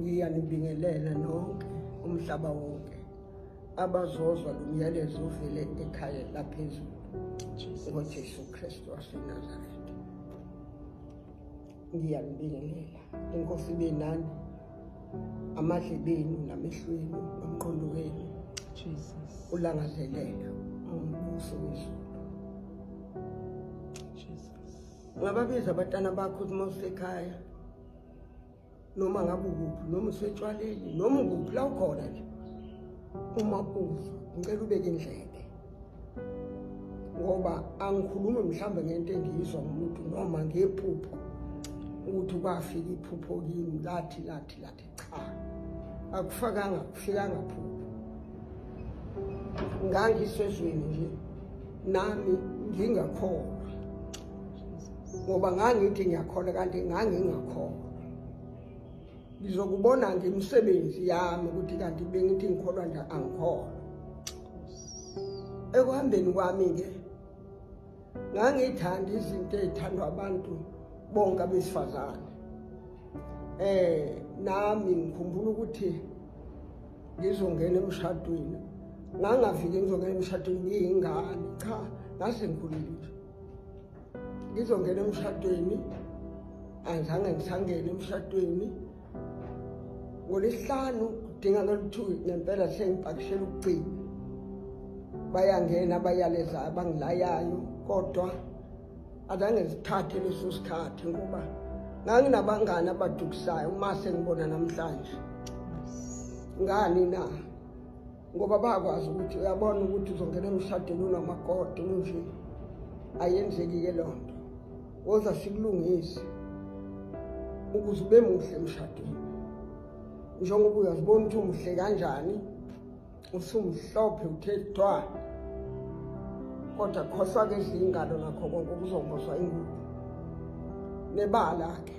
ngiyanibingelela nonke umhlaba wonke abazozwa lo myalezo uvele ekhaya laphezulu ngojesu kristu wasenazaretha ngiyanibingelela inkosi ibe nani amadlebenu namehlweni nomqondo wenu ulangazelela umbuso wezulu Ungababiza abatana bakho ukuthi mawusekhaya noma ngabe ukuphi noma usetshwaleni noma ukuphi la ukhona nje uma uza ngicela ubeke indlebe ngoba angikhulumi mhlawumbe ngento engiyizwa ngomuntu noma ngephupho ukuthi kwafika iphupho kimi lathi lathi lathi cha akufakanga kufikanga phupho ngangisezweni nje nami ngingakholwa ngoba ngangithi ngiyakholwa kanti ngangingakholwa ngizokubona ngemisebenzi yami ukuthi kanti bengithi ngikholwa nje angikholwa ekuhambeni kwami-ke ngangithanda izinto ezithandwa abantu bonke abesifazane eh nami ngikhumbula ukuthi ngizongena emshadweni ngangafiki ngizongena emshadweni ngiyingane cha ngase ngikhulile ngizongena emshadweni angizange ngisangene emshadweni ngolesihlanu kudinga loluthu ngempela sengipakishela ukugcina bayangena bayaleza abangilayayo kodwa azange zithathe leso sikhathi ngoba nganginabangani abadukisayo uma sengibona namhlanje ngani na ngoba bakwazi ukuthi uyabona ukuthi uzongena emshadweni unamakoti unje ayenzeki-ke loo nto woza sikulungise ukuze ube muhle emshadweni njengoba uyazibona ukuthi umuhle kanjani usumhlophe uthe thwa kodwa khohlwa-ke izingalo nakho konke ukuzomboswa ingubo nebala-ke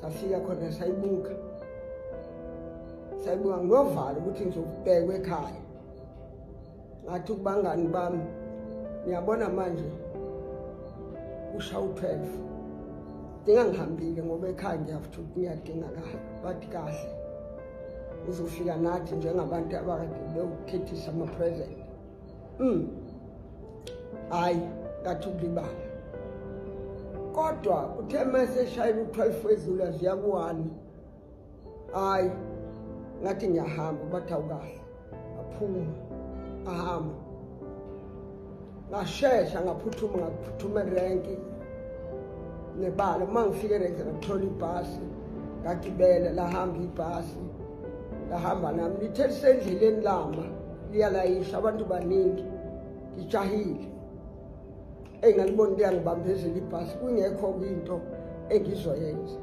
safika khona sayibuka sayibuka nginovalo ukuthi ngizokubhekwa ekhaya ngathi kubangani bami ngiyabona manje usha u-12 dinga ngihambile ngoba ekhaya ngiyafuthi ukuthi ngiyadingakala bathi kahle uzofika nathi njengabantu abakade bewukhethisa ama-present mm hayi ngathi ukulibala kodwa uthe meseshayela u-12 wezulu aziya ku-one hayi ngathi ngiyahamba bathi awukahle aphuma ahamba ngashesha ngaphuthuma ngaphuthuma erenki nebala uma ngifike erenki ngathola ibhasi ngagibela lahamba ibhasi lahamba nami lithe lisendleleni lama liyalayisha abantu baningi ngijahile eyi ngalibona liyangibambezela ibhasi kungekho kwinto engizoyenza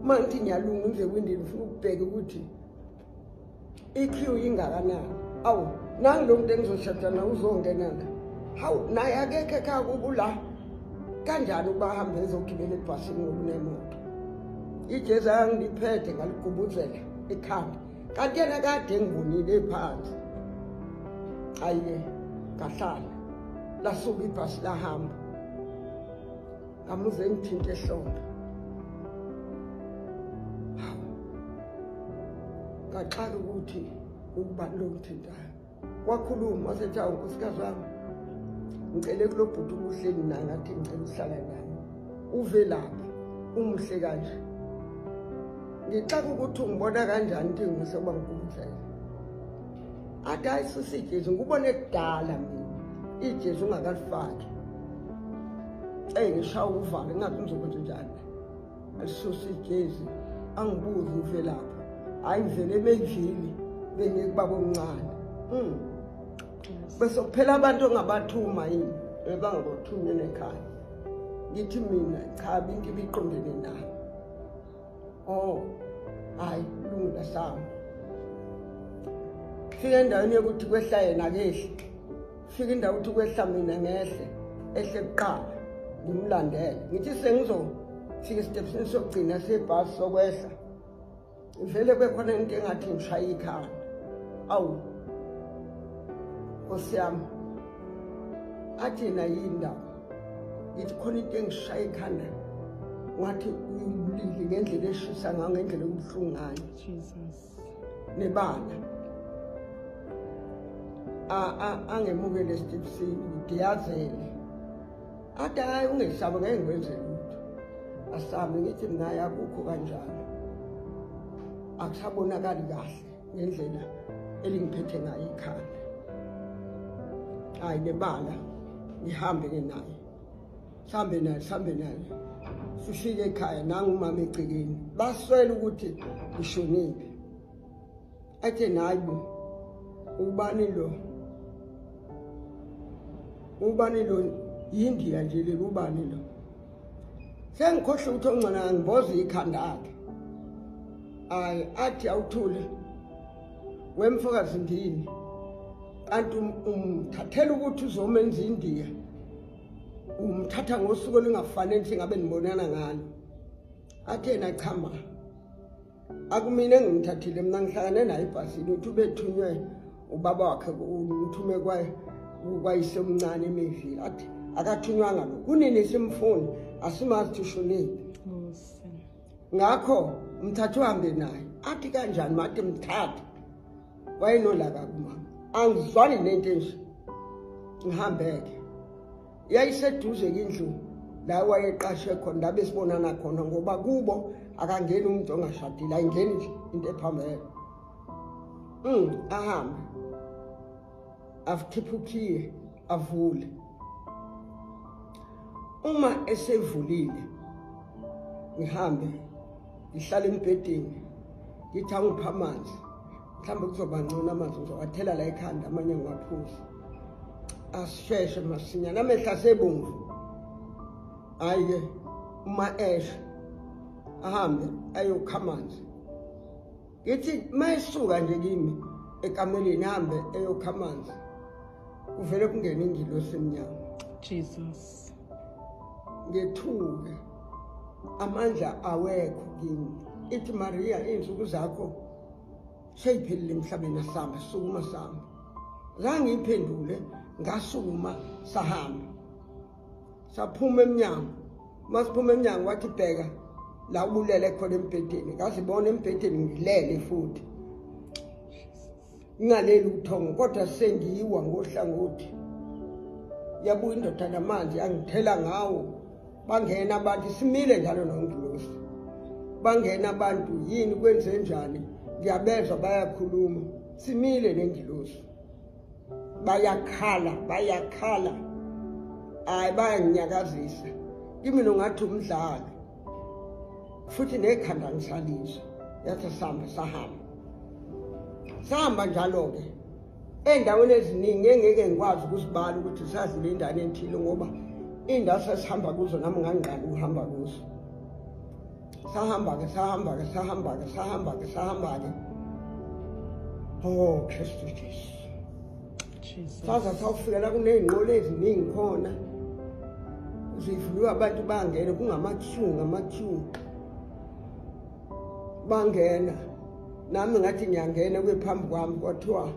uma ngithi ngiyalunga ngize kwindini ufuna ukubheka ukuthi i-q ingakanani awu nangi lo muntu engizoshada na uzongena la hawu naye akekho ekhaya kubo la kanjani ukuba ahambe ezogibela ebhasini ngokunemoto ijezi angiliphethe ngaligubuzela ekhanda kanti yena kade engibonile phansi ayiye ngahlala lasuka ibhasi lahamba ngamuze ngithinte ehlombe ngaxaka ukuthi ukubani lo ngithintayo kwakhuluma wasethi awu nkosikazi wami ngicele kulo bhuti umuhleni naye ngathi ngicela ukuhlala naye uvelaphi umuhle kanje ngixaka ukuthi ungibona kanjani ukuthi ngiseoba ngikubuhlele athi hayi susi ijesu ngikubone kudala mina ijesu ungakalifaki eyi ngishawa uvalo ingazi ngizokwenza njani Asusa ijezi angibuzi uvelaphi. Hayi ngivele emendlini bengikubaba omncane. Mm. Bese kuphela abantu ongabathuma yini ebangabothunyele ekhaya. Ngithi mina cha bintu biqondene nayo. Oh. Hayi lungile hlamba. Fika endaweni yokuthi kwehla yena kehla. fika indawo ukuthi kwehla mina ngehle ehle kuqala ngimlandele ngithi sengizofika esitephisini sokugcina sebhasi sokwehla vele kwekhona into engathi ngishaya ikhanda awu nkosi yami athi na yindaba ngithi khona into engishaya ikhanda wathi uyibulile ngendlela eshisa ngayo ngendlela yokubuhlungu ngayo nebala angemuke lesitipsini ngidiyazele athi hayi ungesabi ngeke ngikwenze lutho asabi ngithi mina yakukho kanjalo akusabonakali kahle ngendlela elingiphethe ngayo ikhanda hayi nebala ngihambe ke naye hlambe naye hlambe naye sifike ekhaya nangumama egcekeni baswele ukuthi ushonile athe nayi bo ubani lo ubani lo yindiya nje leli ubani lo sengikhohle ukuthi ongcona ngimboza ikhanda akhe ayi athi awuthule wemfokazi ndini kanti um, umthathela ukuthi uzomenza indiya umthatha ngosuku olungafanele ukuthi ngabe nibonana ngalo athi yena chama akumina engimthathile mina ngihlangane naye ebhasini uthi ubethunywe ubaba wakhe uthume kwayise omncane emevile athi akathunywanga lo kunini simfuni asimazi thisho nini ngakho mthathe uhambe naye athi kanjani mathi mthathe wayenolaka kumama angizwani nento enje ngihambeke yayiseduze kindlu la wayeqashe khona la besibonana khona ngoba kubo akangeni umuntu ongashadile ayingeni nje into ephambele um ahambe avukhiphe ukhiye avule uma esevulile ngihambe ngihlale embhedeni ngithi angiphe amanzi mhlawumbe kuzoba ngcono amanzi ngizowathela la ekhanda amanye ngiwaphuze asisheshe masinya namehla sebomvu hhayi-ke uma esho ahambe ayokha amanzi ngithi mayisuka nje kimi ekameleni hambe eyokha amanzi kuvele kungena ingilosi emnyama jesus ngethuke amandla awekho kimi ithi mariya iy'nsuku zakho seyiphelile emhlabeni asihamba sukuma sihamba zange iphendule ngasukuma sahamba saphuma emnyango masiphuma emnyango wathi bheka la ubulele khona embhedeni ngazibona embhedeni ngilele futhi ngingaleli ubuthongo kodwa sengiyiwa ngohlangothi yabuya indoda namanzi yangithela ngawo bangena abantu simile njalo nongilosi bangena abantu yini kwenze njani ngiyabezwa bayakhuluma simile nengilosi bayakhala bayakhala hayi bayanginyakazisa kimi nongathi umdlalo futhi nekhanda ngisalizwa yathi sihamba sahamba sihamba njalo-ke ey'ndaweni eziningi engeke ngikwazi ukuzibala ukuthi sazile indane enthile ngoba iy'ndawo sasihamba kuzo nami ngangingqali ukuhamba kuzo Sahamba-ke, sahamba-ke, sahamba-ke, sahamba-ke, sahamba-ke. Oh, Kristu Jesu. Saza sawufikela kuney'nqola eziningi khona. Zivuliwe abantu bangene kungama-queue ngama-queue. Bangena. Nami ngathi ngiyangena kube phambi kwami kwathiwa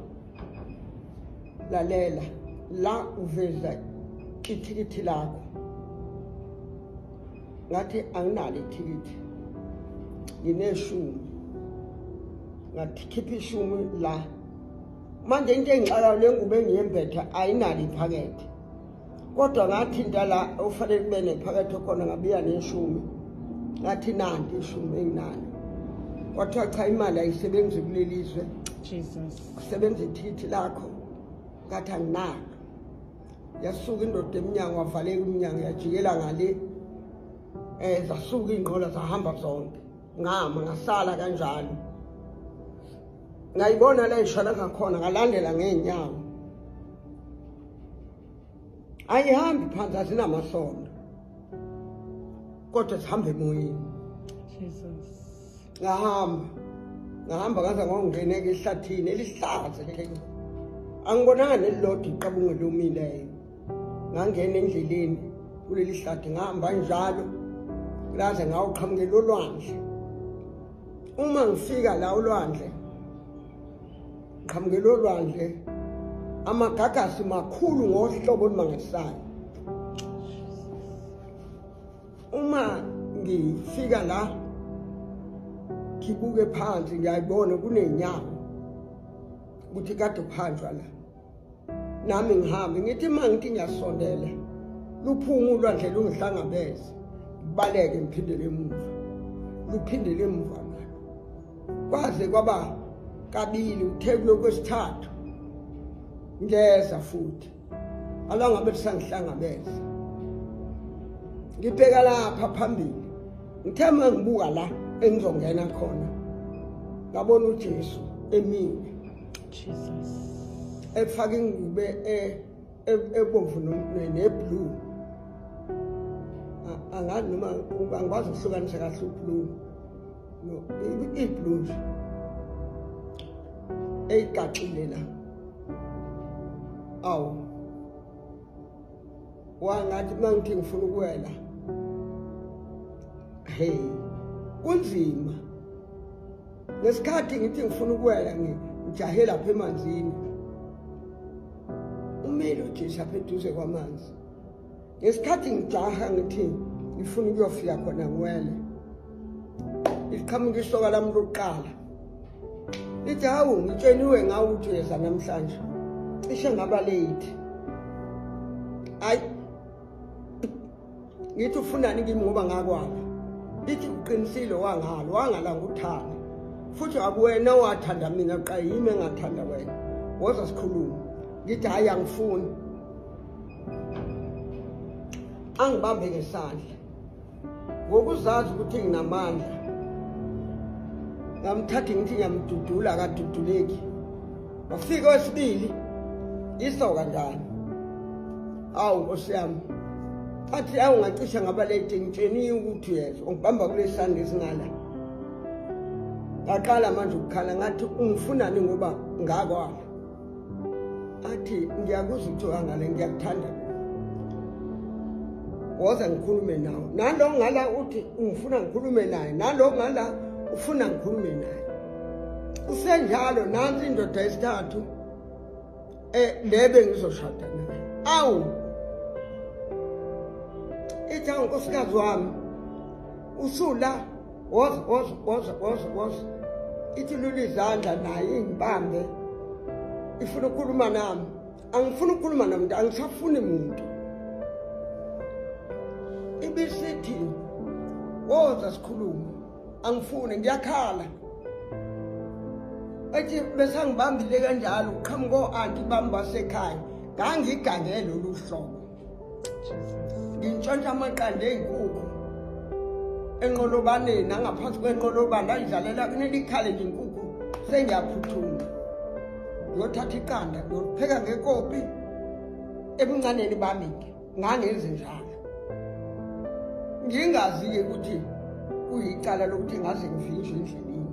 lalela la uveza ithikithi lakho ngathi anginalo ithikithi ngineshumi ngathi khipha ishumi la manje into engixakayo le ngubo engiyembethe ayinalo iphakethe kodwa ngathi into la ufanele kube nephakethe khona ngabiya neshumi ngathi nanti ishumi enginalo kwathiwa cha imali ayisebenzi kuleli zwe kusebenza ithikithi lakho ngathi anginalo yasuka indoda emnyango wavaleka umnyango yajikela ngale eh zasuka ingqola zahamba zonke ngama ngasala kanjalo ngayibona la ishwala ngakhona ngalandela ngeenyawo ayihambi phansi asinamasondo kodwa sihamba emoyeni jesus ngahamba ngahamba ngaze ngongena ke ehlathini elihlaza ke angibonanga nelilodwa iqabunge lomileyo ngangena endleleni kuleli hlathi ngihamba njalo laze ngawuqhamukela olwandle uma ngifika la olwandle ngiqhamukela olwandle amagagasi makhulu ngohlobo olumangisayo uma ngifika la ngibuke phansi ngiyayibona kunenyawo ukuthi kade kuhanjwa la nami ngihambe ngithi uma ngithi ngiyasondela luphuma ulwandle lungihlangabeze ngibaleke ngiphindele emuva luphindele emuva nalo kwaze kwaba kabili uthe kulokhu kwesithathu ngeza futhi alangabe lisangihlangabeza ngibheka lapha phambili ngithe uma ngibuka la engizongena khona ngabona ujesu emile jesus efake ingube e- e- ebomvu neblue angazi noma angikwazi ukuhlukanisa kahle ublue no iblue nje eyigaxile la awu wangathi mangithi ngifuna ukuwela hey kunzima ngesikhathi ngithi ngifuna ukuwela ngijahe lapha emanzini umile ujesu apha eduze kwamanzi ngesikhathi ngijaha ngithi ngifuna ukuyofika khona ngiwele liqhamuka isoka lami lokuqala lithi hawu ngitsheniwe ngawo ukuthi uyeza namhlanje cishe ngaba late hayi ngithi ufunani kimi ngoba ngakwapha lithi uqinisile wangalo wangala nguthanda futhi akuwena owathanda mina qa yimi engathanda wena woza sikhulume ngithi hhayi angifuni angibambe ngesandla ngokuzazi ukuthi nginamandla ngamthatha ngithi ngiyamdudula akaduduleki wafika wesibili iso kanjani awu nkosi yami athi awu ngacisha ngabalete ngitsheniye ukuthi yeza ungibamba kule sandla esingala ngaqala manje ukukhala ngathi ungifunani ngoba ngakwami athi ngiyakuzwa ukuthi wangale ngiyakuthanda woza ngikhulume nawe nalo ngala uthi ungifuna ngikhulume naye nalo ngala ufuna ngikhulume naye kusenjalo nansi indoda yesithathu eh le bengizoshada naye awu itha unkosikazi wami usula woza woza woza woza woza ithi lula izandla naye ingibambe ifuna ukukhuluma nami angifuni ukukhuluma nomuntu angisafuni muntu ibisithi woza sikhulume angifuni ngiyakhala ethi besangibambile kanjalo uqhamuka o-anti bami basekhaya ngangigangele lolu hlobo ngintshontsha amaqanda ey'nkukhu enqolobaneni nangaphansi kwenqolobane ayidlalela kunele ikhale nje inkukhu sengiyaphuthuma ngiyothatha iqanda ngiyopheka ngekopi ebuncaneni bami-ke ngangenzi njalo ngingazi-ke ukuthi kuyicala lokuthi ngaze ngivinjwe endleleni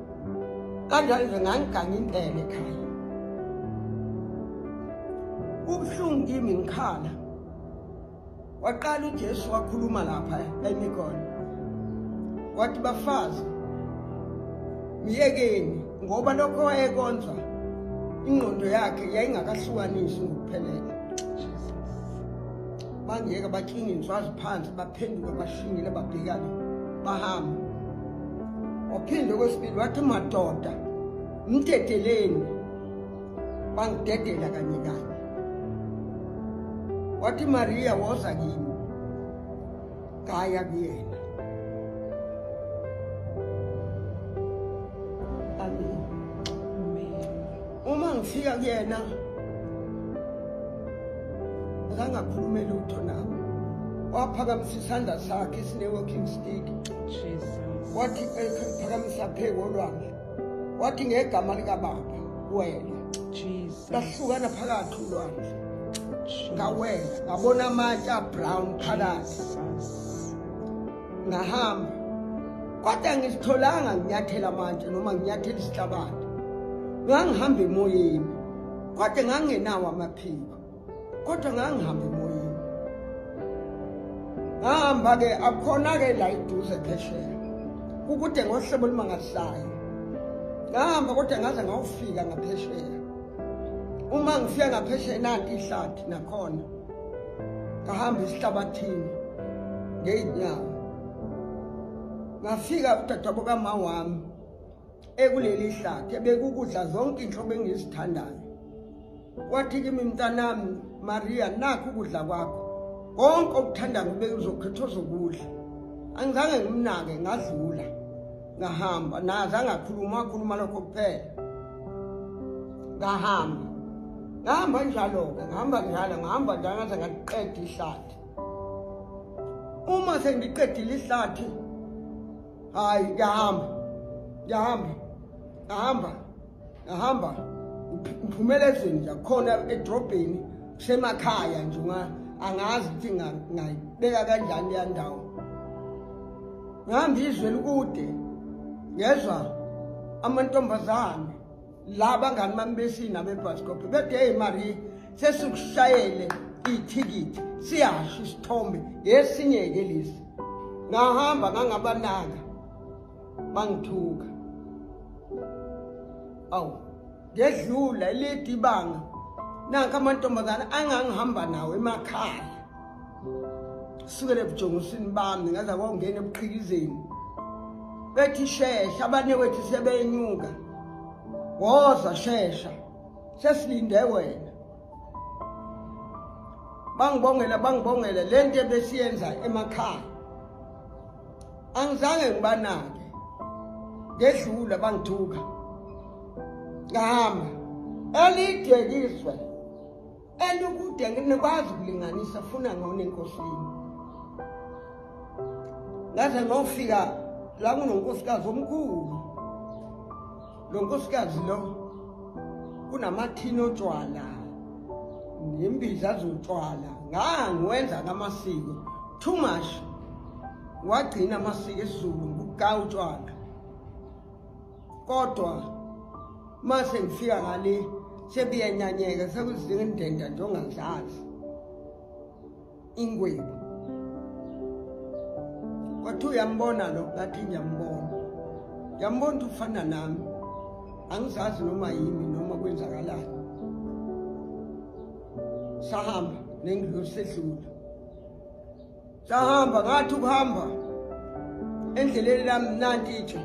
kanjani nje ngangiganga indlela ekhaya kubuhlungu kimi ngikhala waqala uJesu wakhuluma lapha emikona wathi bafazi myekeni ngoba lokho wayekonza ingqondo yakhe yayingakahlukanisi ngokuphelele bangeka batshinga inswazi phansi baphenduka bashingile babhekane bahamba waphinde kwesibili wathi madoda mdedeleni bangidedela kanye kanye wathi mariya woza kimi ngaya kuyena uma ngifika kuyena akangakhulume lutho nami waphakamisa isandla sakhe sine-walking stick wathi phakamisa pheko lwami wathi ngegama likababa wena lahlukana phakathi ulwandle ngawela ngabona amatshe abrown phakathi ngahamba kodwa ngisitholanga nginyathela manje noma nginyathela isihlabane ngangihamba emoyeni kodwa ngangenawo amaphiko kodwa ngangihamba emoyeni ngahamba-ke akhona-ke la iduze phesheya kukude ngohlobo olumangalisayo ngahamba kodwa ngaze ngawufika ngaphesheya uma ngifika ngaphesheya nanti ihlathi nakhona ngahamba esihlabathini ngeyinyawo ngafika udadabo kama wami ekuleli hlathi ebekukudla zonke inhlobo engizithandayo wathi kimi mntanami mariya nakho ukudla kwakho konke okuthandayo bekuzokhethwa zokudla angizange ngimnake ngadlula ngahamba naze angakhuluma wakhuluma lokho kuphela ngahamba ngahamba njalo-ke ngihamba njalo ngihamba njalo ngaze ngaliqeda ihlathi uma sengiqedile ihlathi hhayi ngiyahamba ngiyahamba ngihamba ngahamba ngiphumela endlini nje khona edrobheni kusemakhaya nje angazi ukuthi ngayibeka kanjani leya ndawo ngihamba izwe likude ngezwa amantombazane la bangani bami besina bebhasikophe bethe eyi marie sesikushayele ithikithi siyasho isithombe ngesinye-ke lesi ngahamba ngangabanaka bangithuka awu ngedlula elide ibanga nanka amantombazane angangihamba nawo emakhaya sukele ebujongosini bami ngaza kwawungena ebuqhikizeni bethi shesha abanye wethu sebenyuka woza shesha sesilinde wena bangibongela bangibongela le nto ebesiyenza emakhaya angizange ngibanake ngedlula bangithuka ngahamba elidekiswe elikude ngikwazi ukulinganisa funa ngona enkosini ngaze ngofika la kunonkosikazi omkhulu lo nkosikazi lo kunamathini otshwala nembiza zotshwala ngangiwenza ngamasiko too much wagcina amasiko esizulu nguka utshwala kodwa mase ngifika ngale sebiyenyanyeka sekuzingendenda nje ongazazi ingwebu wathi uyambona lo ngathi ngiyambona ngiyambona ukuthi ufana nami angizazi noma yimi noma kwenzakalani sahamba nengilosi sedlula sahamba ngathi ukuhamba endleleni lami nanti itshe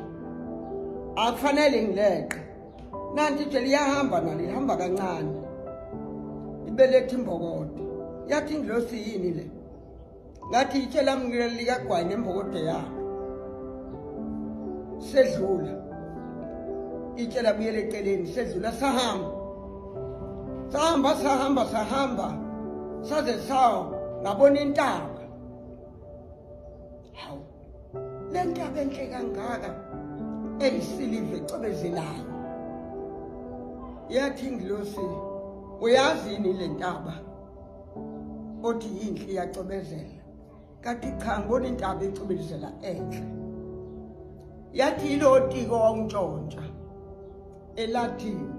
akufanele ngileqe nanti nje liyahamba nalo ihamba kancane ibeletha imbokodo yathi ingilosi yini le ngathi yitshe lami likagwayi nembokodo yalo sedlula itshe labuyela eceleni sedlula sahamba sahamba sahamba sahamba saze sawa ngabona intaba hawu le ntaba enhle kangaka eyisiliva ecobezelayo yathi ingilosi uyazi yini le ntaba othi yinhle iyacobezela kanti cha ngibona intaba ecobezela enhle yathi yilotiko wawuntshontsha elatini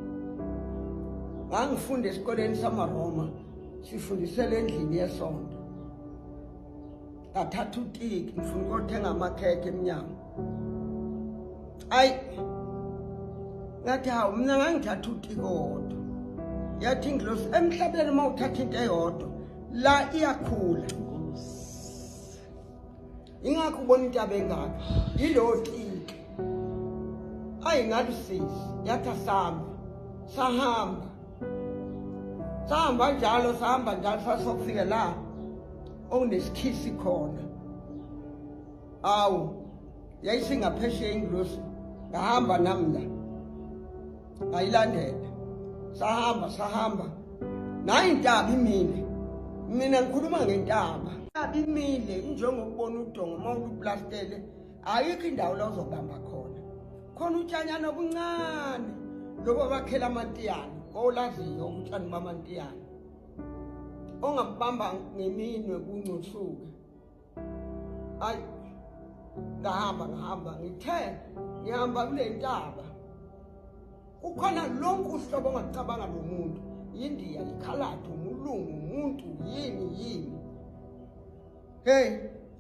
ngangifunda esikoleni samaroma sifundisela endlini yesonto ngathatha utiki ngifuna ukothenga amakhekhe emnyango ayi ngathi hawu mina ngangithatha utiki owodwa yathi ingilosi emhlabeni uma uthatha into eyodwa la iyakhula ingakho ubona into abengaka yilowo tiki ayi ngalusisi yathi asihamba sahamba sahamba njalo sahamba njalo sasokufike la owunesikhisi khona awu yayisingaphesheya ingilosi ngahamba nami la ngayilandela sahamba sahamba nayi intaba imile mina ngikhuluma ngentaba intaba imile injengokubona udongo uma uplastele ayikho indawo la uzobamba khona khona utshanyana obuncane lobo bakhela amantiyane kowulaziyo utshani bamantiyane ongakubamba ngeminwe kungcuthuka ayi ngahamba ngihamba ngithe ngihamba kule ntaba kukhona lonke uhlobo ongakucabanga lo muntu yindiya yikhaladi umulungu umuntu yini yini hey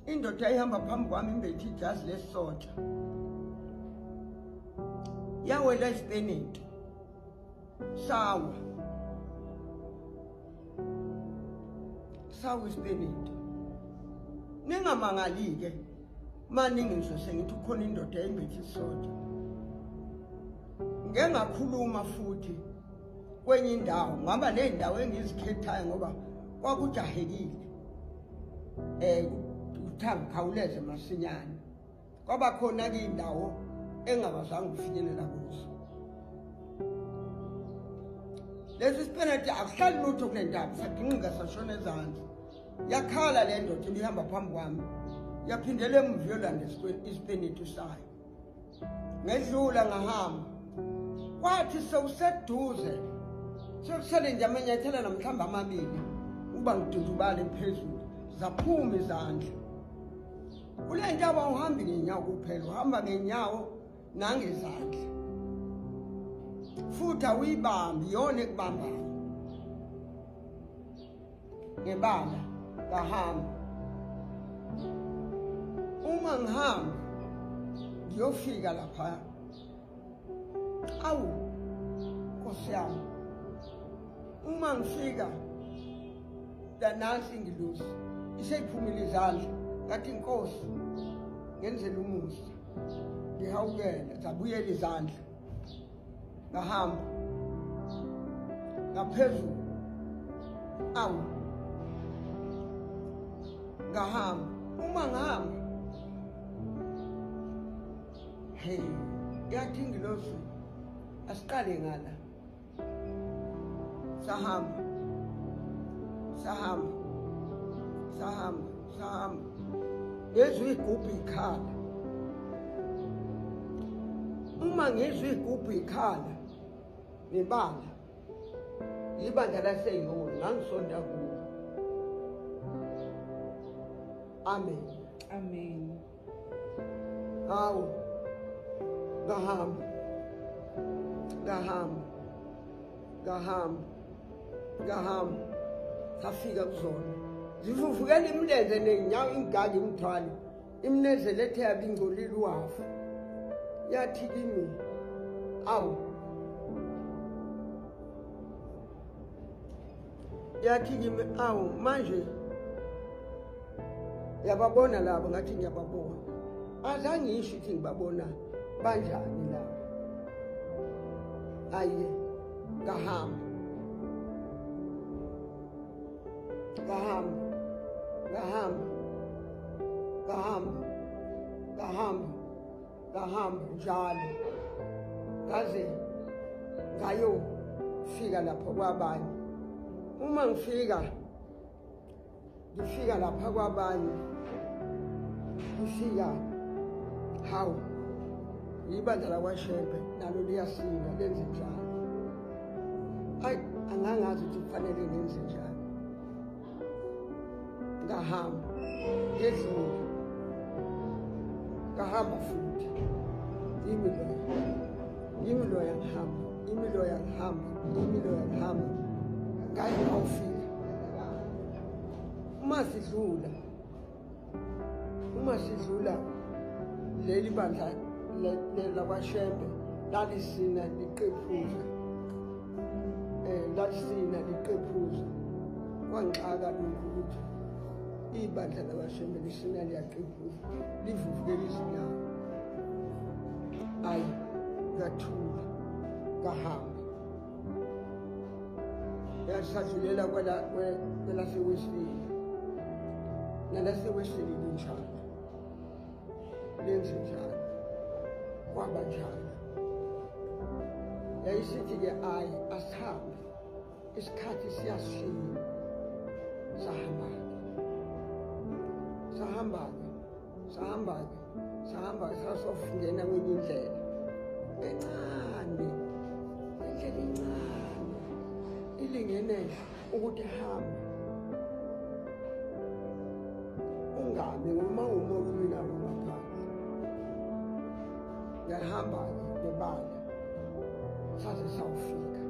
indoda ihamba phambi kwami imbethi ijazi lesotsha yawela isipeneti Sawa. Sawa isibeledi. Ningamangali ke. Maningi nje sengithi ukhona indoda engithi soda. Ngeke ngakhuluma futhi kwenye indawo ngaba nezindawo engizikhethayo ngoba kwakujahekile. Eh uthangikhawuleze masinyane. kwaba khona ke indawo engabazange ufinyelela kuzo lesi sipenati akuhlali lutho kule ndaba sagingqika sashona ezansi yakhala le ndoda ibihamba phambi kwami yaphindela emuva yolanda isipeneti sayo ngedlula ngahamba kwathi sewuseduze sekusele nje amanyathela namhlawumbe amabili uba ngidudubale phezulu zaphuma izandla kule ntaba uhambi ngenyawo kuphela uhamba ngenyawo nangezandla futhi awuyibambi yona ekubambayo ngebala ngahamba uma ngihamba ngiyofika laphaya awu nkosi yami uma ngifika lanansi ingilosi iseyiphumile izandla ngathi inkosi ngenzela umusa ngihawukela zabuyela izandla ngahamba ngaphezulu awu ngahamba uma ngihamba Hey, yathi ingilosi asiqale ngala. Sahamba. Sahamba. Sahamba, sahamba. Yezwi igubhu ikhala. Uma ngizwi igubhu ikhala ngebala. Ibandla laseyiwo ngangisonda kulo. Amen. Amen. hawu ngahamba ngahamba ngahamba ngahamba safika kuzona zivuvukela imilenze nenyawo ingaka imthwale imnezele ethe yabe ingcolile uhafu yathi kimi awu yathi kimi awu manje yababona labo ngathi ngiyababona azange ngisho ukuthi ngibabona banjani labo aye ngahamba ngahamba ngahamba ngahamba ngahamba ngahamba njalo ngaze ngayofika lapho kwabanye uma ngifika ngifika lapha kwabanye ngifika hawu yibandla lakwashembe nalo liyasinda lenze njalo ayi angangazi ukuthi kufanele ngenze njalo ngahamba ngedlula ngahamba futhi yimi loya yimi loya ngihamba yimi loya ngihamba yimi loya ngihamba ngaye awufika uma sidlula uma sidlula leli bandla lakwashembe lalisina liqephuza um eh, lalisina liqephuza kwangixaka lokhu ukuthi ibandla lakwashembe lisina liyaqephuza livuvukela izinyawo ayi ngathula ngahamba yasahlulela kwelaseWestville nalaseWestville linjalo lenze njalo kwaba njalo yayisithi-ke ayi asihambe isikhathi siyashiya sahamba-ke sahamba-ke sahamba-ke sahamba sasofungena kwenye indlela encane indlela incane ilingenele ukuthi hambe ungami uma uma ulwinawo ngaphansi ngiyahamba-ke nebala saze sawufika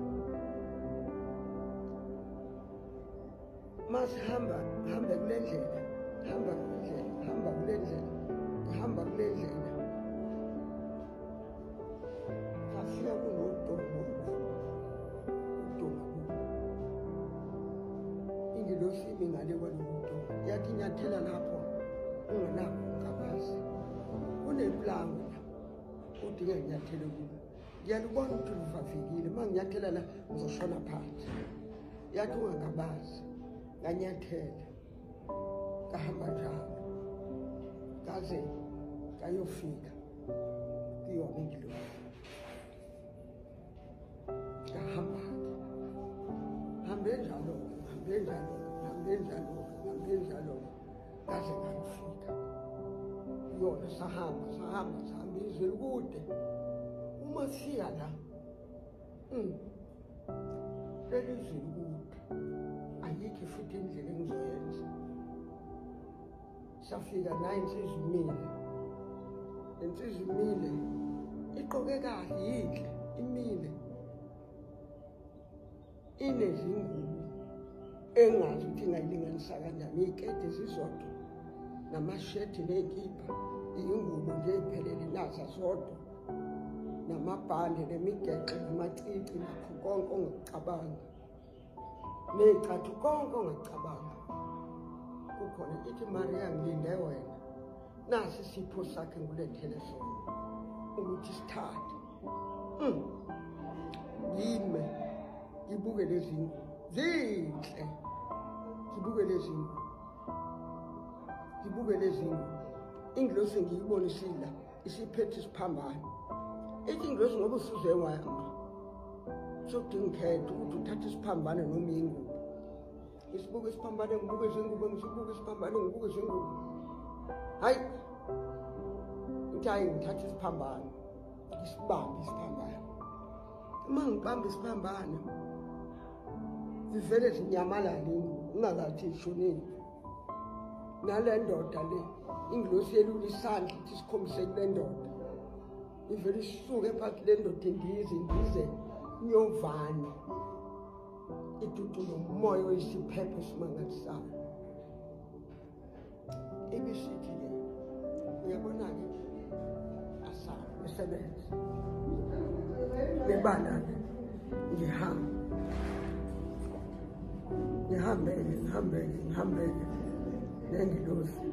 masihamba hambe kule ndlela hamba kule ndlela hamba kule ndlela hamba kule ndlela afika kunodongo udongo ingilosi imi ngale kwaloku dongo yathi nyathela lapho ungenakho ungabazi unepulango la udinga nyathele kulo ngiyalubona ukuthi luvavikile uma nginyathela la ngizoshona phansi yathi ungakabazi nganyathela kahamba njalo kaze kayofika kuyona indlu kahamba hambe njalo hambe njalo hambe njalo hambe njalo ngaze ngangifika yona sahamba sahamba sihamba izwe likude uma siya la mm. leli izwe likude ayikho futhi indlela engizoyenza safika naye insizwa imile le nsizwa imile iqoke kahle yinhle imile inezingini engazi ukuthi ingayilinganisa kanjani iy'kede zizodwa namashethi ney'kipha iyingubo nje ey'phelele naza zodwa namabhande nemigexo namacici nakho konke ongakucabanga ney'cathu konke ongakucabanga kukhona ithi mariya ngilinde wena nasi isipho sakhe ngulethele sona ukuthi sithathe Mm. Yime ngibuke lezi ngubo. Zinhle. Ngibuke lezi ngubo. Ngibuke lezi ngubo. Ingilosi ngiyibona isila isiphethe isiphambano. Ithi ingilosi ngoba usuze wayama. Sokudinga ukhetha ukuthi uthathe isiphambano noma ingubo. ngisibuke isiphambane ngibuke izingubo ngisibuke isiphambane ngibuke izingubo hayi uthi hayi ngithatha isiphambane ngisibambe isiphambane uma ngibamba isiphambane zivele zinyamalale ingubo ungakathi ishonini nale ndoda le ingilosi yelula isandla ithi sikhombise kule ndoda ivele isuke phakathi le ndoda indize indize nyovane idudu lomoya oyisiphepho esimangalisayo ibisithi ke uyabona-ke asala isebenze bebana-ke ngihambe ngihambeke ngihambeke ngihambeke nengilozi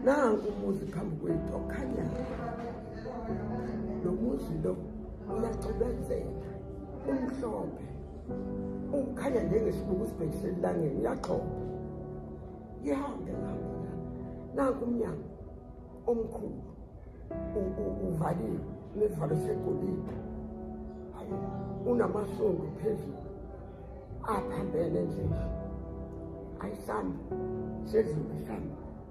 nanku umuzi phambi kwethu okhanyayo lo muzi lo uyaxibenzela umhlophe ukhanya njengesibuku sibhekise elangeni uyaxhoba ihambe lapho nanku umnyango omkhulu uvaliwe nesivalo segolide unamasondo phezulu aphambene nje ayisambe sezulu isambe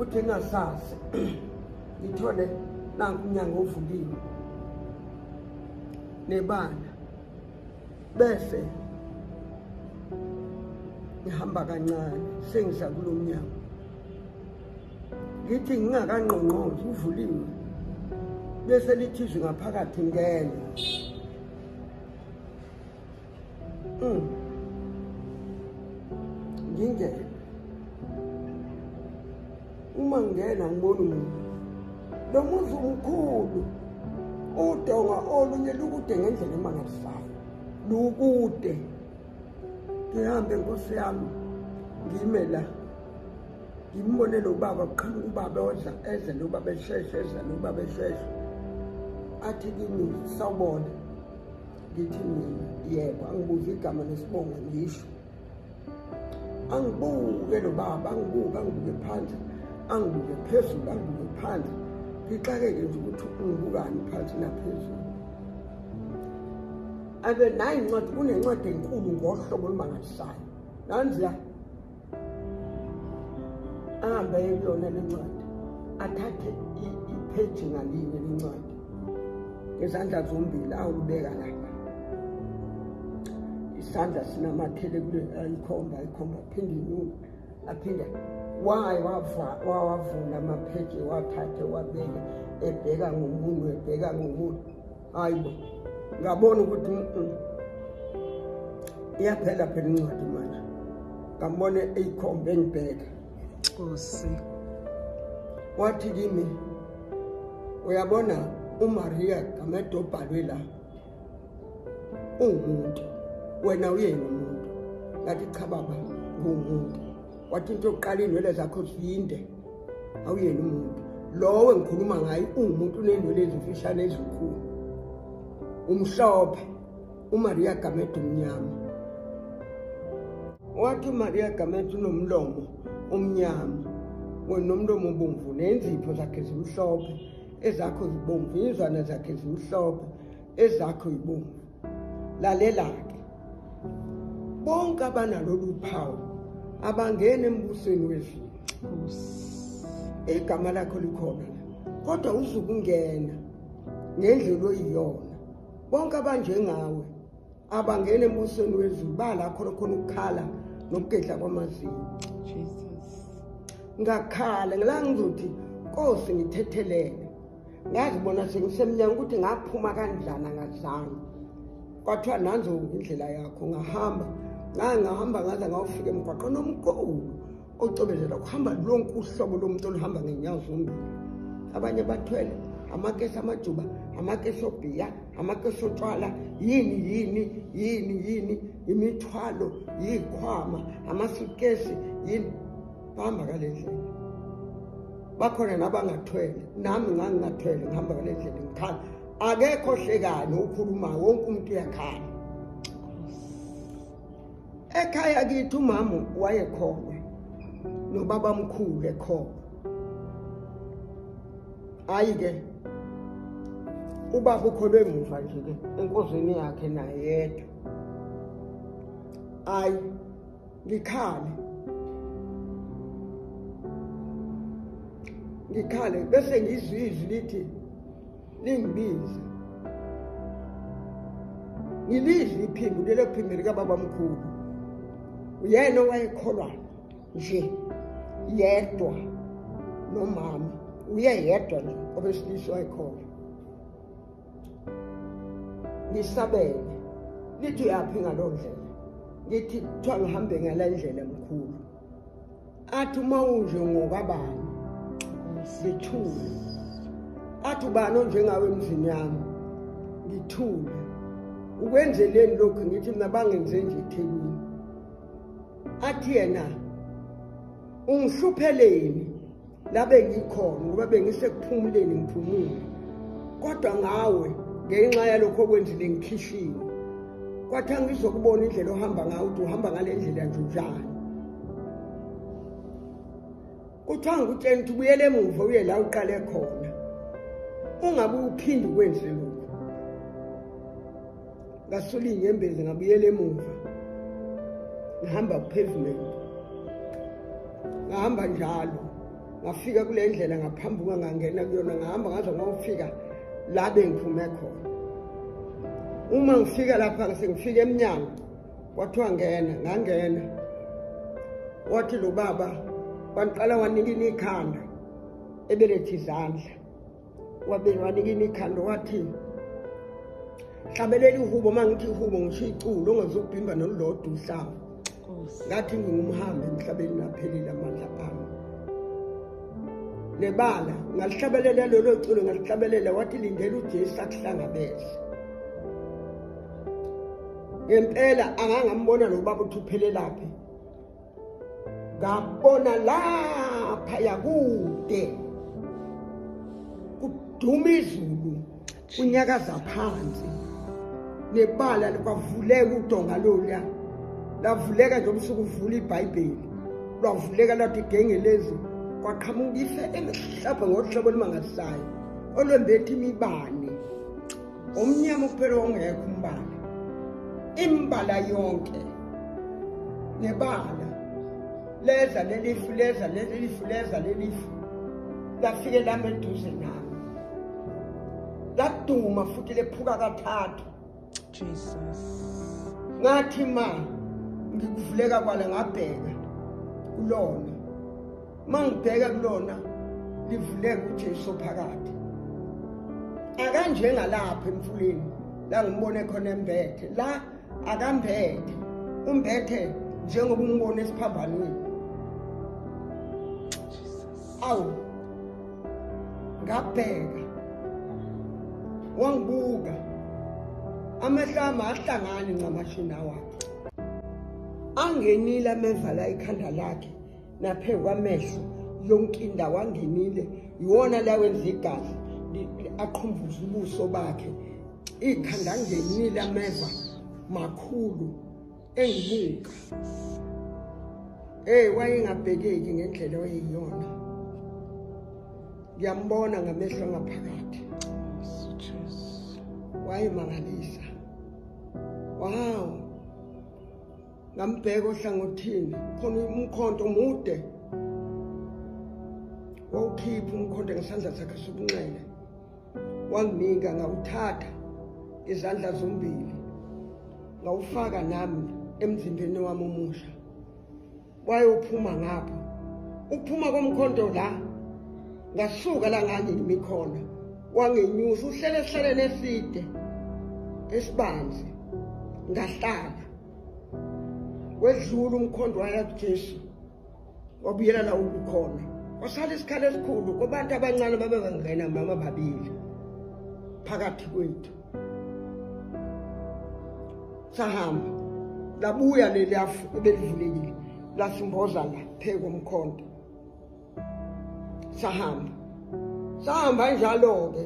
uthi engasazi ngithole nanku umnyango ovuliwe nebala bese ngihamba kancane sengidla kulo mnyango ngithi ngingakangqongqozi uvuliwe bese lithizwe ngaphakathi ngene Mm. Ngingena. Uma ngingena ngibona umuntu. Lo muzi umkhulu. Udonga olunye lukude ngendlela emangalisayo. Lukude. Ngihambe nkosi yami. Ngime la. Ngimbone lo baba kuqhamuka ubaba odla edle lo baba esheshe edla lo baba esheshe. Athi kimi sawubona. ngithi mina yebo angibuze igama nesibongo ngisho angibuke lo baba angibuke angibuke phandle angibuke phezulu angibuke phandle ngixakeke nje ukuthi ungibukani phansi naphezulu abe nayi incwadi kunencwadi enkulu ngohlobo olumangalisayo nanziya ahambe eyekuyona le ncwadi athathe ipheji ngalinye le ncwadi ngezandla zombili awulibeka lapha isandla sinamathele kule ayikhomba ayikhomba aphinde inyuka aphinde waye wawavula amapheji wathathe wabeke ebheka ngomunwe ebheka ngomunwe hayi bo ngabona ukuthi mm, mm. iyaphela phela incwadi mana ngambona eyikhombe engibheka nkosi wathi kimi uyabona umaria gamede obhalwe la ungumuntu wena uyena umuntu ngathi cha baba nguwumuntu wathi into yokuqala iy'nwele zakho zinde awuyena umuntu lowo engikhuluma ngaye ungumuntu unenwele ezimfishane ezinkulu umhlophe umaria gamede umnyama wathi umaria gamede unomlomo omnyama wena umlomo obomvu nenzipho zakhe zimhlophe ezakho zibomvu izwana zakhe zimhlophe ezakho yibomvu lalela-ke bonke abanalolu phawu abangene embusweni wezulu igama lakho likhona kodwa uzukungena ngendlela oyiyona bonke abanjengawe abangene embusweni wezulu balakho lokhona ukukhala nokugedla kwamazinyo ngakhala ngila ngizothi nkosi ngithethelele ngazibona sengisemnyanga ukuthi ngaphuma kanjani angazange kwathiwa nanzo indlela yakho ngahamba ngangahamba ngaze ngawufika emgwaqeni omkhulu ocobezela kuhamba lonke uhlobo lomuntu oluhamba ngenyawo zombili abanye bathwele amakesi amajuba amakesi obhiya amakesi otshwala yini yini yini yini imithwalo yikhwama amasukesi yini bahamba ngale ndlela bakhona nabangathwele nami ngangingathwele ngihamba ngale ndlela ngikhala akekho hlekani okhulumayo wonke umuntu uyakhala ekhaya kithi umama wayekhona nobaba mkhulu ekhona hayi ke ubaba ukholwe muva nje ke enkozini yakhe naye yedwa hayi ngikhale ngikhale bese ngizwa izwi lithi lingibize ngilizwe iphimbo lelo phimbo likababamkhulu uyena owayekholwa nje yedwa nomama uye yedwa nje obesilisa wayekholwa ngihlabele lithi uyaphi ngaloo ndlela ngithi kuthiwa ngihambe ngala ndlela mkhulu athi uma unje ngokabani ngithule athi ubani onjengawe emzini yami ngithule ukwenzeleni lokhu ngithi mina bangenze nje ethekwini athi yena ungihluphele yini labe ngikhona ngoba bengisekuphumuleni ngiphumule kodwa ngawe ngenxa yalokho okwenzile ngikhishiwe kwathi angizokubona indlela ohamba ngayo ukuthi uhamba ngale ndlela nje njani kuthiwa ngikutshela ukuthi ubuyele emuva uye la uqale khona ungabe uphinde ukwenze lokhu ngasula iy'nyembezi ngabuyela emuva ngihamba ku-pavement ngahamba njalo ngafika kule ndlela ngaphambuka ngangena kuyona ngahamba ngaze ngayofika la bengiphume khona uma ngifika lapha sengifika emnyango kwathiwa ngena ngangena wathi lo baba wangiqala wanikina ikhanda ebelethe izandla wabewanikini ikhanda wathi hlabelela ihubo uma ngithi ihubo ngisho iculo ongezokubhimba nolulodwa uhlaba ngathi ngingumhambi emhlabeni naphelile amandla ami nebala ngalihlabelela lolo culo ngalihlabelela wathi lindela ujesu akuhlangabeze ngempela angangambona lo baba uthi uphelelaphi ngabona lapha yakude kuduma izulu kunyakaza phansi nebala kwavuleka udonga loluya lavuleka nje umsuku uvula ibhayibheli lwavuleka lathi igengelezi kwaqhamuka ife elihlabhe ngohlobo olumangalisayo olwembetha imibane umnyama kuphela ongekho umbala imbala yonke nebala leza lelifu leza lelifu leza lelifu lafike lami eduze nami laduma futhi lephuka kathathu jesus ngathi ma ngikuvuleka kwala ngabheka kulona mangibheka kulona livuleka uJesu phakathi akanjengalapha emfuleni la ngimbone khona embethe la akambethe umbethe njengoba umbone esiphambanweni awu ngabheka wangibuka amehlo ami ahlangani ncamashini awakhe angenile amevala ikhanda lakhe naphezu kwamehlo yonke indawo angenile yiwona la wenza igazi aqhumbuza ubuso bakhe ikhanda angenile ameva makhulu engibuka hey wayengabhekeki ngendlela oyiyona ngiyambona ngamehlo ngaphakathi wayemangalisa wow ngambheka ohlangothini khona umkhonto omude wawukhipha umkhonto ngesandla sakhe sokunxele wanginika ngawuthatha izandla zombili ngawufaka nami emzimbeni wami omusha wayophuma ngapho ukuphuma komkhonto la ngasuka la ngangimi khona wangenyusa uhlele esihlaleni eside esibanzi ngahlala wedlula umkhondo waya kujesu wabuyela la ubukhona wasala isikhala esikhulu kubantu abancane babengangena mama babili phakathi kwethu sahamba labuya leliyafu ebelivulekile lasimboza la phekomkhonto sahamba sahamba njalo-ke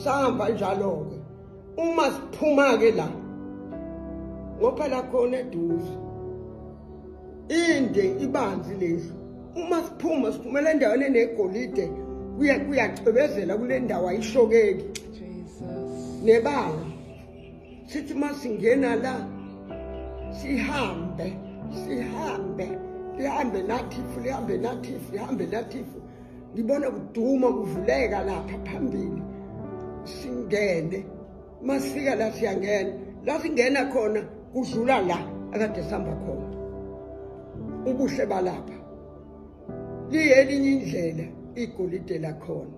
sahamba njalo-ke uma siphuma-ke la ngophela khona eduze inde ibanzi lendlu uma siphuma siphumela endaweni enegolide kuyacwebezela kule ndawo ayishokeki nebanga sithi uma singena la sihambe sihambe lihambe nathifu lihambe nathifu lihambe nathifu ngibona kuduma kuvuleka lapha phambili singene masifika la siyangena la singena khona kudlula la akade sihamba khona ubuhle balapha liyelinye indlela igolide lakhona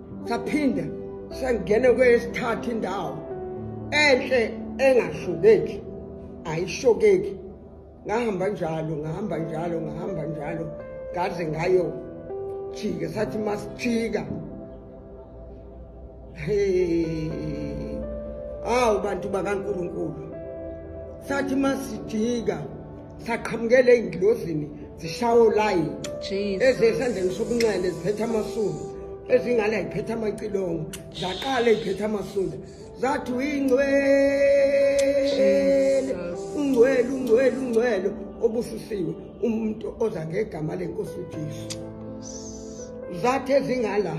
saphinda sangene kwesithathu indawo enhle engashukeki ayishokeki ngahamba njalo ngahamba njalo ngahamba njalo ngaze ngayo jika sathi masijika awu bantu bakaNkuluNkulu sathi masijika saqhamukela ey'ndlozini zishawo layi ezesandleni sobunxele ziphethe amasulu ezingala ziphethe amacilongo zaqala ey'phethe amasulu zathi uyingcwele ungcwele ungcwele ungcwele obusisiwe umuntu oza ngegama lenkosi ujesu zathi ezingala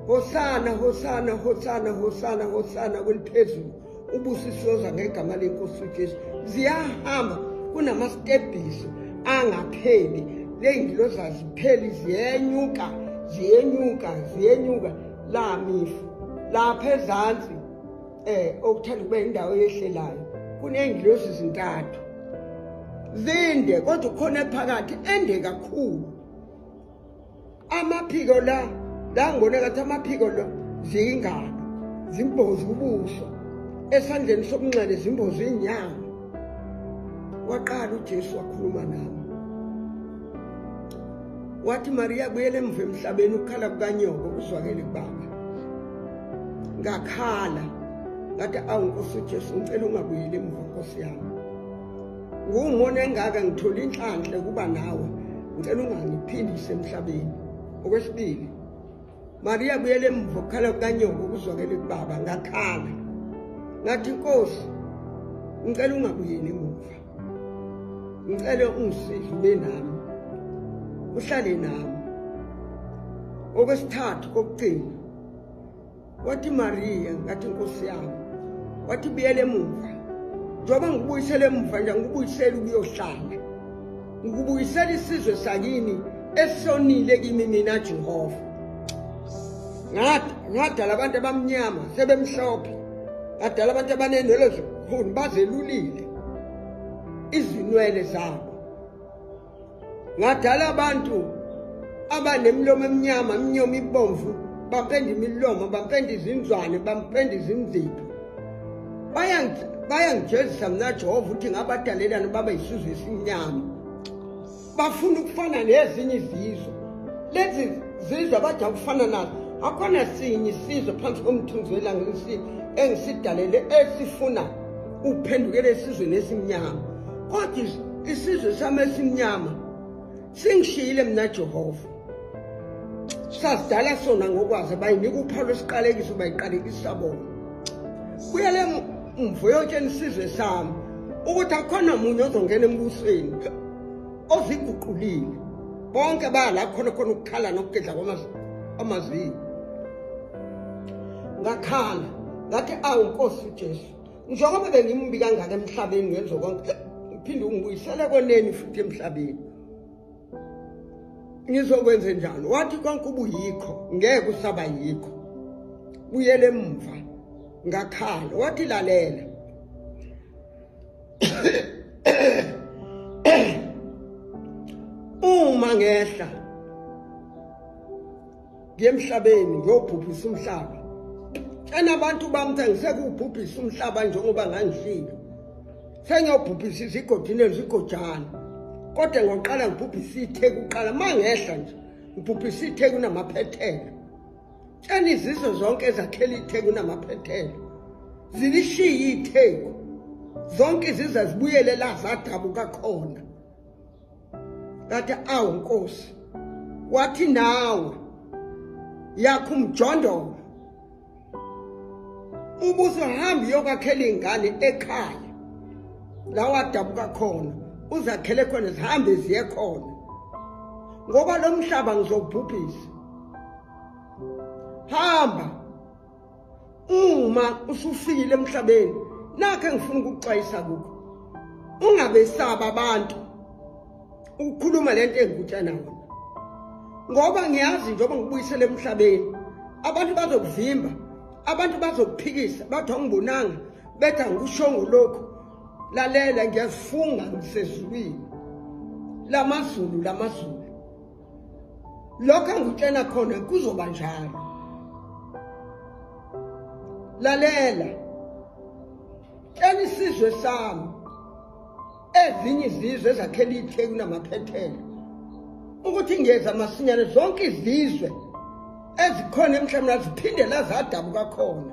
hosana hosana hosana hosana hosana kweliphezulu ubusisiyoza ngegama lenkosi ujesu ziyahamba kunamastebhiso angapheli ley'ngiloza zipheli ziyenyuka ziyenyuka ziyenyuka la mifu lapha ezansi um eh, okuthanda ukuba indawo yehlelayo kuney'ngilozi zintathu zinde kodwa ukhona phakathi ende kakhulu amaphiko la la ngibone kathi amaphiko la ziyingalo zimbozi ubuso esandleni sokunxele zimbozi inyanga waqala uJesu wakhuluma nami wathi Maria buyele emva emhlabeni ukukhala kukanyoko uzwakele kubaba ngakhala ngathi awu Nkosi uJesu ngicela ungabuyeli emva Nkosi yami Ngumona engaka ngithola inhlanhla kuba nawe. Ngicela ungangiphindise emhlabeni. Okwesibili, Maria buyele emuva ukukhala kukanyoko ukuzwakele kubaba ngakhala. Ngathi inkosi ngicela ungabuyeli emuva. Ngicela ungisize ube nami. Uhlale nami. Okwesithathu kokugcina wathi mariya ngathi nkosi yami wathi buyele emuva njengoba ngikubuyisele emuva nje ngikubuyisele ukuyohlala ngikubuyisela isizwe sakini esonile kimi mina jehova ngadala abantu abamnyama sebemhlophe ngadala abantu abanenwele zikhulu bazelulile izinwele zabo ngadala abantu abanemilomo emnyama imnyomo ibomvu bapenda imilomo bapenda izinzwane bapenda izinzipho bayangijezisa mna jehova ukuthi ngabadalelani baba yisizwe esimnyama bafuna ukufana nezinye izizwe lezi zizwe abade ukufana nazo akhona sinye isizwe phansi komthunzi welanga engisidalele esifuna ukuphendukela esizweni esimnyama kodwa isizwe sami esimnyama singishiyile mina jehova sasidala sona ngokwazi bayinika uphalo esiqalekiso bayiqalekisa bona kuyele mvo yotsheni isizwe sami ukuthi akhona munye ozongena embusweni oziguqulile bonke baya la khona khona ukukhala nokugedla kwamazinyo ngakhala ngathi awu nkosi ujesu njengoba bengimbi kangaka emhlabeni ngenzo konke uphinde ungibuyisele koneni futhi emhlabeni ngizokwenze njani wathi konke ubuyikho ngeke usaba yikho buyele emva ngakhala wathi lalela uma ngehla ngiye emhlabeni ngiyobhubhisa umhlaba tshena abantu bami ukuthi angisekuwubhubhisa umhlaba njengoba ngangifika sengiyobhubhisa izigodini ezigojana kodwa ngoqala ngibhubhisa itheku kuqala uma ngehla nje ngibhubhisa itheku namaphethela tshena izizwe zonke ezakhela itheku namaphethela zilishiye itheku zonke izizwe zibuyele la zadabuka khona ngathi awu nkosi wathi nawe yakho umjondolo ubuzohamba uyokwakhela ingane ekhaya la wadabuka khona uzakhele khona zihambe ziye khona ngoba lo mhlaba ngizobhubhisa hamba uma usufikile emhlabeni nakhe ngifuna ukukuxwayisa kukho ungabesaba abantu ukukhuluma lento engikutshana wona ngoba ngiyazi njengoba ngibuyisele emhlabeni abantu bazokuvimba abantu bazokuphikisa bathi awungibonanga bethi angikushongo lokhu lalela ngiyazifunga ngisezulwini lamazulu lamazulu lokho engikutshela khona kuzoba njalo lalela tshela isizwe sami ezinye izizwe ezakhela itheku namaphethelo ukuthi ngiyeza masinyane zonke izizwe ezikhona emhlabeni aziphinde lazadabuka khona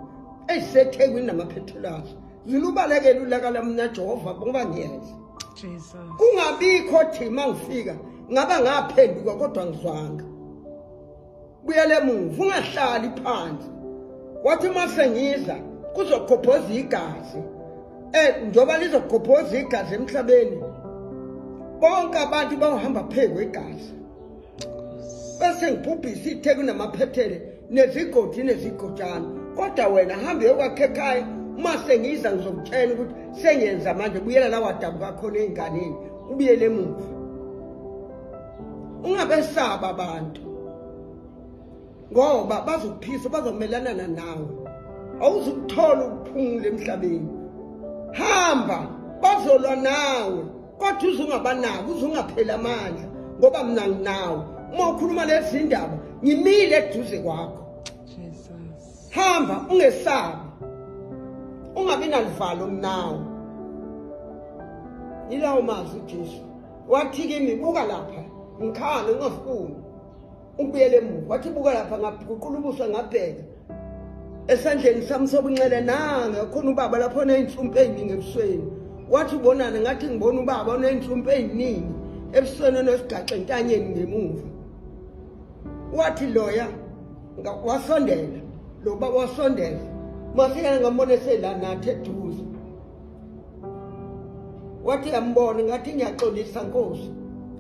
ezisethekwini namaphethelo azo zilubalekele ulaka lamna jehova ngoba ngiyeza kungabikho thi uma ngifika ngaba ngaphenduka kodwa ngizwanga buyele emuva ungahlali phansi wathi uma sengiza kuzokhophoza igazi um njengoba lizokhophoza igazi emhlabeni bonke abantu bawuhamba phezu kwegazi bese ngibhubhisa ithe kunamaphethele nezigodi nezigojana kodwa wena hambe yokwakhe ekhaya uma sengiza ngizokutshela ukuthi sengenza manje buyela la wadabuka khona ey'nganeni ubuyele emuva ungabesaba abantu ngoba bazokuphisa bazomelanana nawe awuzukuthola ukuphumula emhlabeni hamba bazolwa nawe kodwa uze ungabanaki uze ungapheli amandla ngoba mina nginawo uma ukhuluma lezi ndaba ngimile eduze kwakho hamba ungesabi ungabi nalivalo mnawo yilawo mazwi ujesu wathi kimi buka lapha ngikhale ungafuni umbuyele emuva wathi buka lapha ngaguqula ubuso ngabheka esandleni sami sobunxele nanga khona ubaba lapho oney'nhlumpe ey'ningi ebusweni wathi ubonani ngathi ngibona ubaba oney'nhlumpe ey'ningi ebusweni onesigaxe entanyeni ngemuva wathi loya wasondela lo baba wasondela masekana ngambona eselanathi eduze wathi yambona ngathi ngiyaxolisa nkosi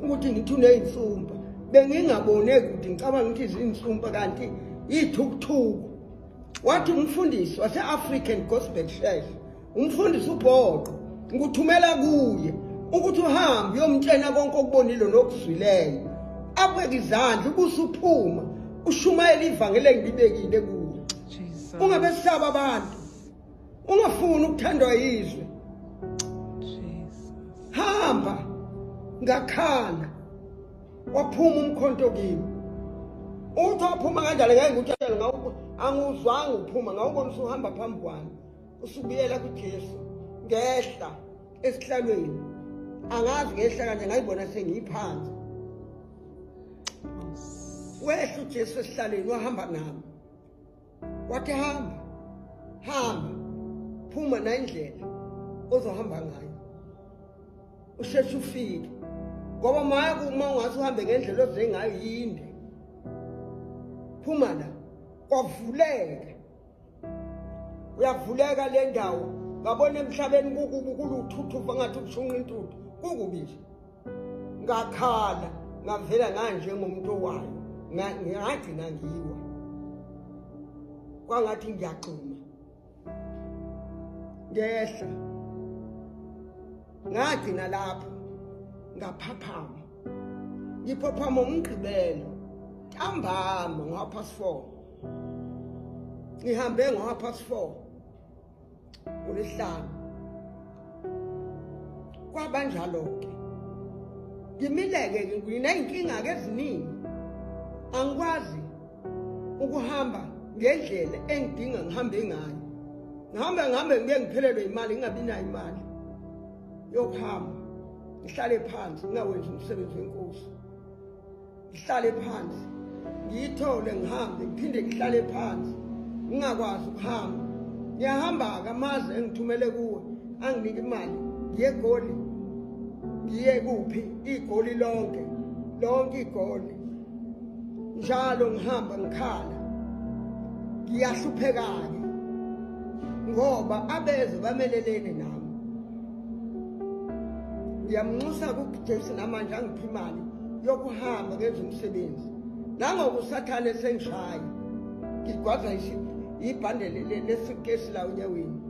ukuthi ngithi uney'nsumpa bengingabone kude ngicabanga ukuthi ziyinsumpa kanti yithukuthuku wathi umfundisi wase-african gospel church umfundisi ubhoqo ngikuthumela kuye ukuthi uhambe uyomtshena konke okubonile nokuzwileyo abeke izandla ubuse uphuma ushumayela ivangeli engibibekile kuye ungabe sisaba abantu ungafuni ukuthandwa yizwe hamba ngakhala waphuma umkhonto kimi uthi waphuma kanjalo ngeke ngikutshele ngawuko anguzwanga uphuma ngawubona usuhamba phambi kwami usubuyela kujesu ngehla esihlalweni angazi ngehla kanje ngayibona sengiyiphansi wehla ujesu esihlalweni wahamba nami wathi hamba hamba phuma nayindlela ozohamba ngayo usheshe ufike ngoba maya kuma ungathi uhambe ngendlela oze ngayo yinde phuma la kwavuleka uyavuleka le ndawo ngabona emhlabeni kukubi kuluthuthuva ngathi ubushunqa intuthu kukubi nje ngakhala ngavela nganjengomuntu owayo ngagcina ngiwa kwangathi ngiyagxuma ngehla ngagcina lapho ngaphaphama ngiphaphama umgqibelo ntambama ngo-half past four ngihambe ngo-half past four ngolwesihlanu kwabanjalo-ke ngimileke nginey'nkinga-ke eziningi angikwazi ukuhamba ngendlela engidinga ngihambe ngayo ngihambe ngihambe ngike ngiphelelwe imali ngingabi nayo imali yokuhamba ngihlale phansi ngingawenzi umsebenzi wenkosi ngihlale phansi ngiyithole ngihambe ngiphinde ngihlale phansi ngingakwazi ukuhamba ngiyahamba-ke amazi engithumele kuwe anginike imali ngiye egoli ngiye kuphi igoli lonke lonke igoli njalo ngihamba ngikhala ngiyahlupheka-ke ngoba abeze bamelelene nami ngiyamnxusa kujesu namanje angiphi imali yokuhamba ngenza umsebenzi nangoku usathane esengishaya ngigwaza ibhande lesukesi la unyaweni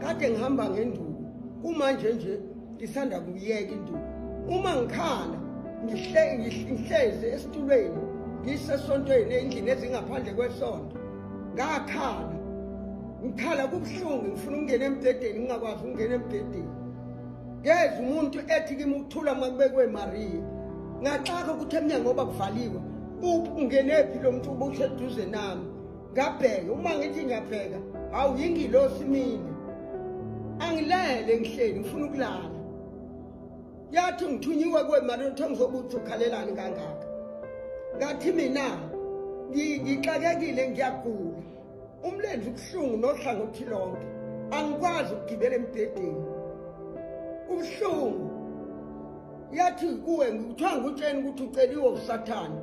kade ngihamba ngenduku kumanje nje ngisanda kuyeka induku uma ngikhala ngihlezi esitulweni ngisesontweni endlini ezingaphandle kwesonto ngakhala ngikhala kubuhlungu ngifuna ukungena embhedeni ngingakwazi ukungena embhedeni ngeza umuntu ethi kimi ukuthula uma kubekwe mariya ngaxaka ukuthi emnyango oba kuvaliwe ungenephi lo mntu uba useduze nami ngabheke uma ngithi ngiyabheka hawu yingilosi mina angilele ngihleli ngifuna ukulala yathi ngithunyiwe kwemali uthe ngizobe uthi ukhalelani kangaka ngathi mina ngixakekile ngiyagula umlenze ubuhlungu nohlangothi lonke angikwazi ukugibela embhedeni ubuhlungu yathi kuwe ngikuthiwa ngutsheni ukuthi uceliwe usathane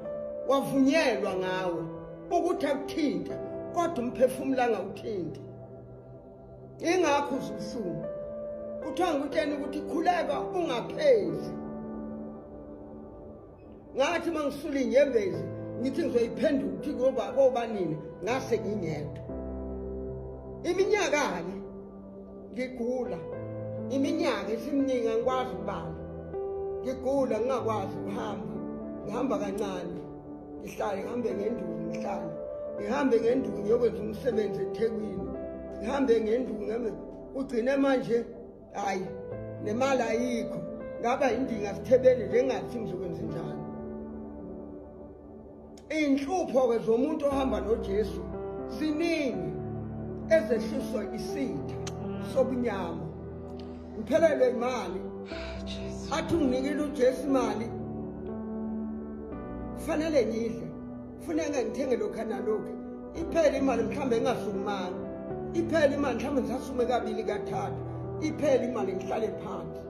wavunyelwa ngawe ukuthi akuthinte kodwa umphefumulo angawuthinti ingakho uzubuhlungu kuthiwa ngutsheni ukuthi khuleka ungaphezi ngathi uma ngisula inyembezi ngithi ngizoyiphendula ukuthi kuyoba kobanini ngase ngingedwa iminyaka-ke ngigula iminyaka isimningi angikwazi ukubala ngigula ngingakwazi ukuhamba ngihamba kancane ngihlale ngihambe ngenduku ngihlale ngihambe ngenduku ngiyokwenza umsebenzi ethekwini ngihambe ngenduku ngihambe ugcine manje hayi nemali ayikho ngaba indinga sithebeni njengathi ngizokwenza njani iy'nhlupho-ke zomuntu ohamba nojesu ziningi ezehliswa isitha sobunyama ngiphelelwe imali athi unginikile ujesu imali kufanele ngidle funeka ngithenge lokha nalokhu iphele imali mhlawumbe ngingasukumani iphele imali mhlawumbe ngisasume kabili kathathu iphele imali ngihlale phansi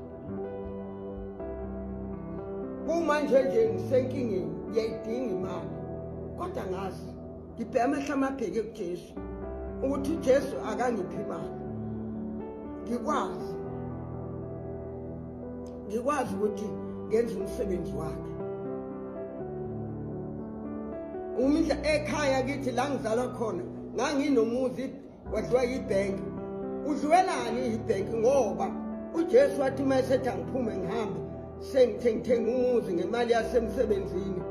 kumanje nje ngisenkingeni ngiyayidinga imali kodwa ngazi ngibheke amehlo amabheke kujesu ukuthi ujesu akangiphi imali ngikwazi ngikwazi ukuthi ngenze umsebenzi wakhe umdla ekhaya kithi la ngizalwa khona nganginomuzi wadliwa yibhenki udliwelani yibhenki ngoba ujesu wathi uma esethi angiphume ngihambe sengithe ngithenga umuzi ngemali yasemsebenzini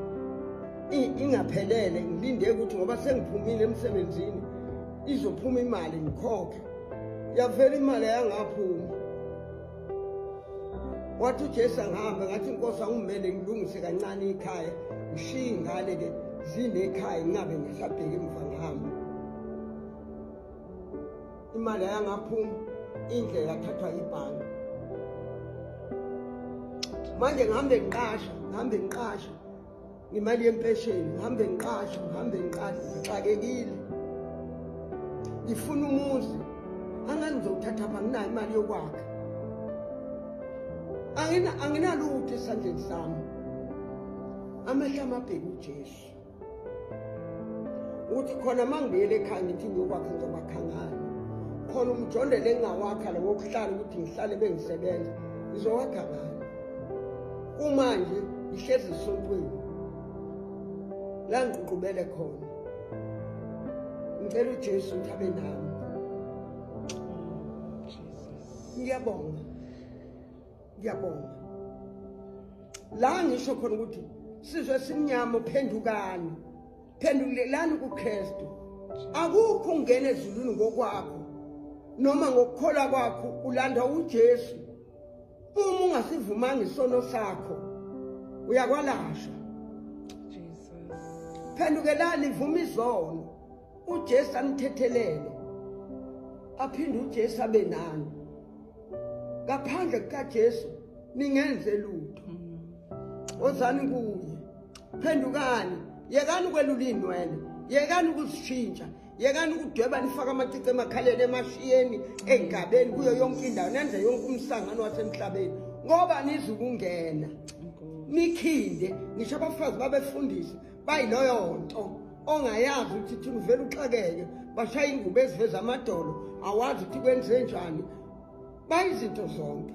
ingaphelele ngilinde ukuthi ngoba sengiphumile emsebenzini izophuma imali ngikhokhe yavela imali yangaphuma wathi ujesu angihambe ngathi inkosi angumele ngilungise kancane ikhaya ngishiye ingane ke zinekhaya ngingabe ngisabheki emva ngihambe imali ayangaphuma indle yathathwa yibhange manje ngihambe ngiqasha ngihambe ngiqasha ngemali yempesheni ngihambe ngiqashe ngihambe ngiqashe ngixakekile ngifuna umuzi angani ngizowuthatha pha nginayo imali yokwakha anginalutho esandleni sami amehla amabheki ujesu ukuthi khona uma ngibuyele ekhaya ngithi ngiyokwakha ngizokwakha ngani khona umjondelo engingawakha lo wokuhlala ukuthi ngihlale bengisebenza ngizowakha ngani kumanje ngihlezi esontweni la ngiququbele khona ngicela uJesu ukuthi abe nami ngiyabonga ngiyabonga la ngisho khona ukuthi sizwe simnyama uphendukani phendulelani kuKristu akukho ungena ezulwini ngokwakho noma ngokukholwa kwakho ulanda uJesu uma ungasivumanga isono sakho uyakwalashwa phendukelani vuma izono ujesu anithethelele aphinde ujesu abe nani ngaphandle kukajesu ningenze lutho mm. ozani kuye phendukani yekani ukwelula iy'nwele yekani ukuzishintsha yekani ukudweba nifake amacici emakhaleni emashiyeni engabeni kuyo yonke indawo nenze yonke umsangano wasemhlabeni ngoba nizukungena nikhinde ngisho abafazi babefundisi bayiloyo nto ongayazi ukuthi thina uvele uxakeke bashaya ingubo eziveza amadolo awazi ukuthi kwenze njani bayizinto zonke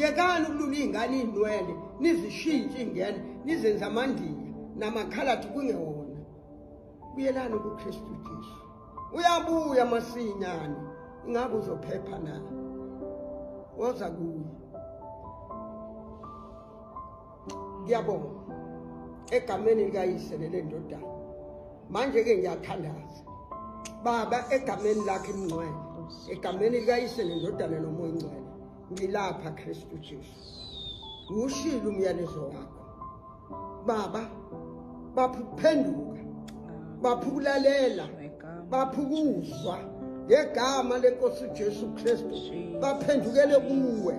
yekani ukulula iy'ngane iy'nwele nizishintshe iy'ngene nizenza amandiya namakhalathi kungewona buyelani kukristu jesu uyabuya masinyane ingabe uzophepha na woza kuye ngiyabonga egameni likayise lelendodana manje ke ngiyathandaza baba egameni lakhe imngcwele egameni likayise nendodana nomoya ingcwele ngilapha Kristu Jesu ushilo umyalezo wakho baba baphukuphenduka baphukulalela baphukuzwa ngegama lenkosi uJesu Kristu baphendukele kuwe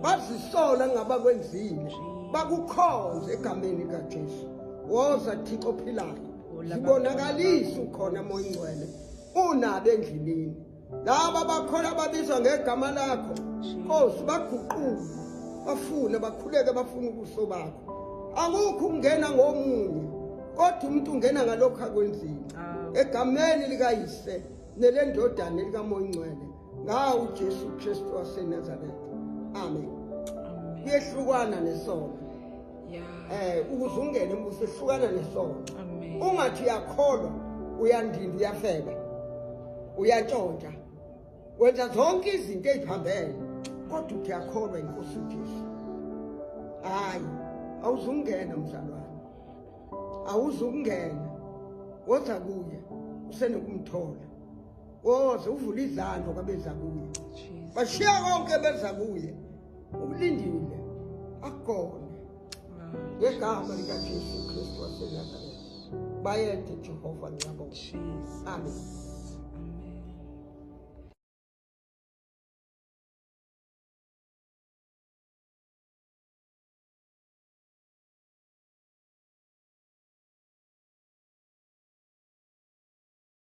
bazisola ngabakwenzile bakukhonze egameni kaJesu woza Thixo ophilayo zibonakalisa ukhona moya ungcwele unabe endlini laba bakhola babizwa ngegama lakho nkosi baguquke bafune bakhuleke bafune ubuso bakho akukho ukungena ngomunye kodwa umuntu ungena ngalokho akwenzile egameni likayise nelendodana likamoya ongcwele ngawo ujesu kristu wasenazaretha amen kuyehlukwana nesono eh ukuze ungene embuso hlukana nesono ungathi uyakholwa uyandinda uyafeba uyantshontsha wenza zonke izinto eziphambene kodwa uthi yakholwa inkosi uJesu hayi awuzungena mzalwane awuzungena woza kuye usenokumthola woze uvule izandla kwabeza kuye bashiya konke beza kuye Ulindile akugone ngegama likaJesu Kristu waseNazaretha. Bayede Jehova nqabo. Amen.